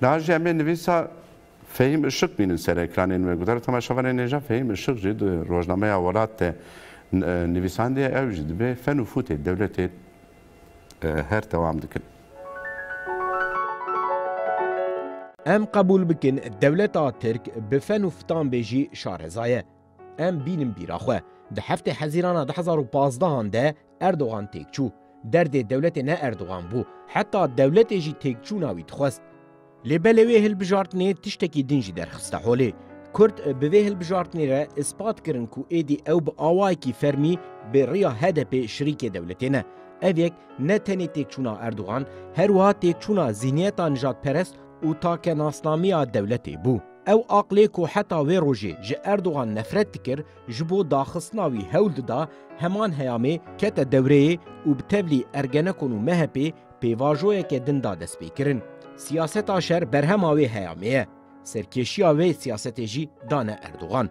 Niha jî em ê nivîsa Fehîm Işık bînin ser ekranên me. Gotara Temel Şabanê nêja Fehîm Işık jî di rojnameya Welat de nivîsandiye, ew jî dibe fen û fûtê dewletê her dewam dikin. Em qebûl bikin dewleta Tirk bi fen û fitan bê jî şareza ye. Em bînin bîra xwe. Di heftê hezîrana du hezar û pazdehan de Erdogan têk çû. Derdê dewletê ne Erdogan bû. Heta dewletê jî têkçûna wî dixwest. Lê belê wê hilbijartinê tiştekî din jî derxiste holê. Kurd bi vê hilbijartinê re ispat kirin ku êdî ew bi awayekî fermî bi riya HDPê şirîkê dewletê ne. Ev yek ne tenê têkçûna Erdogan, her wiha têkçûna zîhniyeta nijadperest û takenasnamiya dewletê bû. Ew aqilê ku heta wê rojê ji Erdogan nefret dikir, ji bo daxistina wî hewl dida, heman heyamê kete dewreyê û bi tevlî Ergenekon û MHP'ê pêvajoyeke din da destpêkirin. Siyaseta şer berhema wê heyamê ye. Serkêşiya wê siyasetê jî dane Erdogan.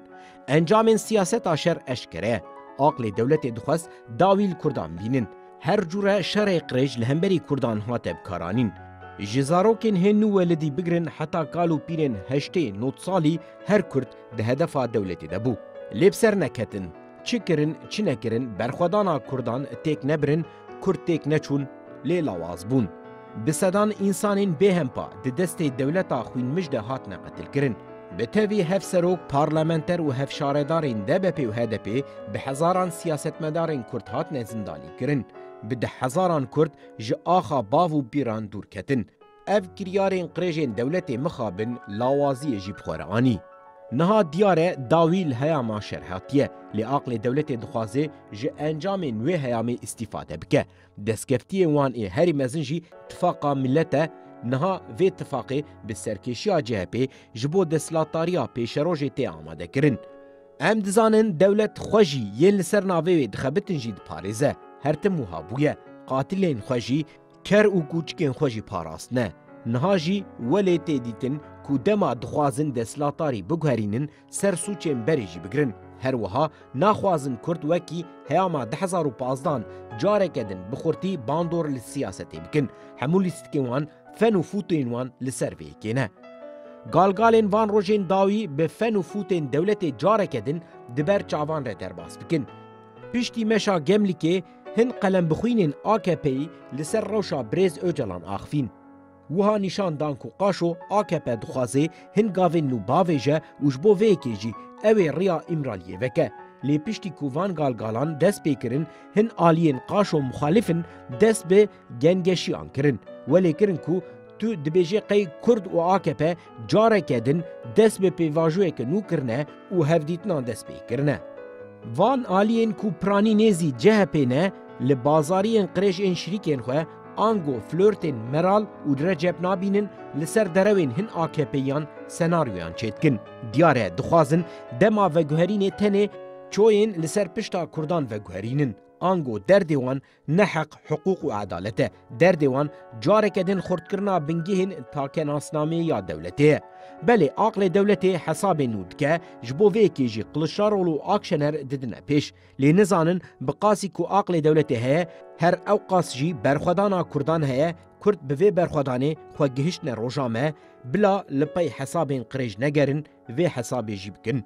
Encamên siyaseta şer eşkere ye. Aqilê dewletê dixwest dawî li Kurdan bînin. Her cure şerê qirêj li hemberî Kurdan hate bikaranîn. Ji zarokên hê nû welidî bigirin heta kal û pîrên heştê, nod salî her Kurd di hedefa dewletê de bû. Lê bi ser neketin. Çi kirin, çi nekirin, berxwedana Kurdan têk nebirin, Kurd têk neçûn, lê lawaz bûn. Bi sedan însanên bêhempa di destê dewleta xwînmij de hatine qetilkirin. Bi tevî hevserok, parlamenter û hevşaredarên DBP'ê û HDP'ê, bi hezaran siyasetmedarên Kurd hatine zindanîkirin. Bi deh hezaran Kurd ji axa bav û bîran dûr ketin. Ev kiryarên qirêjên dewletê mixabin lawaziyê jî bi xwe re anî. Niha diyar e dawî li heyama şer hatiye, lê aqlê dewletê dixwaze ji encamên wê heyamê îstîfade bike. Destkeftiyên wan ê herî mezin jî Tifaqa Milet e, niha vê tifaqê bi serkêşiya CHP'ê ji bo desthilatdariya pêşerojê tê amadekirin. Em dizanin dewlet xwe jî yên li ser navê wê dixebitin jî diparêze, her tim wiha bûye, qatilên xwe jî, ker û kûçikên xwe jî parastine. Niha jî welê tê dîtin ku dema dixwazin desthilatdarî biguherînin Ser sûcên berê jî bigirin. Her wiha naxwazin Kurd wekî heyama di hezar û pazdan careke din bi xurtî bandor li siyasetê bikin. Hemû lîstikên wan, fen û fûtên wan li ser vê yekê ne. Galgalên van rojên dawî bi fen û fûtên dewletê careke din di ber çavan re derbas bikin. Piştî meşa Gemlîkê hin qelembixwînên AKP'yî li ser rewşa Birêz Ocalan axivîn. Wiha nîşan dan ku qaşo akp dixwaze hin gavên nû bavêje û ji bo vê yekê jî ew ê riya Îmraliyê veke. Lê piştî ku van galgalan dest pê kirin, hin aliyên qaşo muxalîf in dest bi gengeşiyan kirin. Welê kirin ku tu dibêjê qey kurd û akp Careke din dest bi pêvajoyeke nû kirine û hevdîtinan dest pê kirine. Van aliyên ku piranî nê zî CHP ne, li bazariyên qirêj ên şirîkên xwe ango flirtên Meral û Recep nabînin li ser derewên hin AKPiyan senaryoyan çêdikin. Diyar e dixwazin dema veguherînê tenê çoyên li ser pişta Kurdan veguherînin ango derdê wan Ne heq, hiqûq û edalet e. Derdê wan careke din xurtkirina bingehên takenasnameyê ya dewletê ye. Belê aqlê dewletê hesabên nû dike, ji bo vê yekê jî Qiliçdaroglu û Akşener didine pêş. Lê nizanin bi qasî ku aqlê dewletê heye, her ewqas jî berxwedana Kurdan heye, Kurd bi vê berxwedanê xwe gihiştine roja me, bila li pey hesabên qirêj negerin, vê hesabê jî bikin.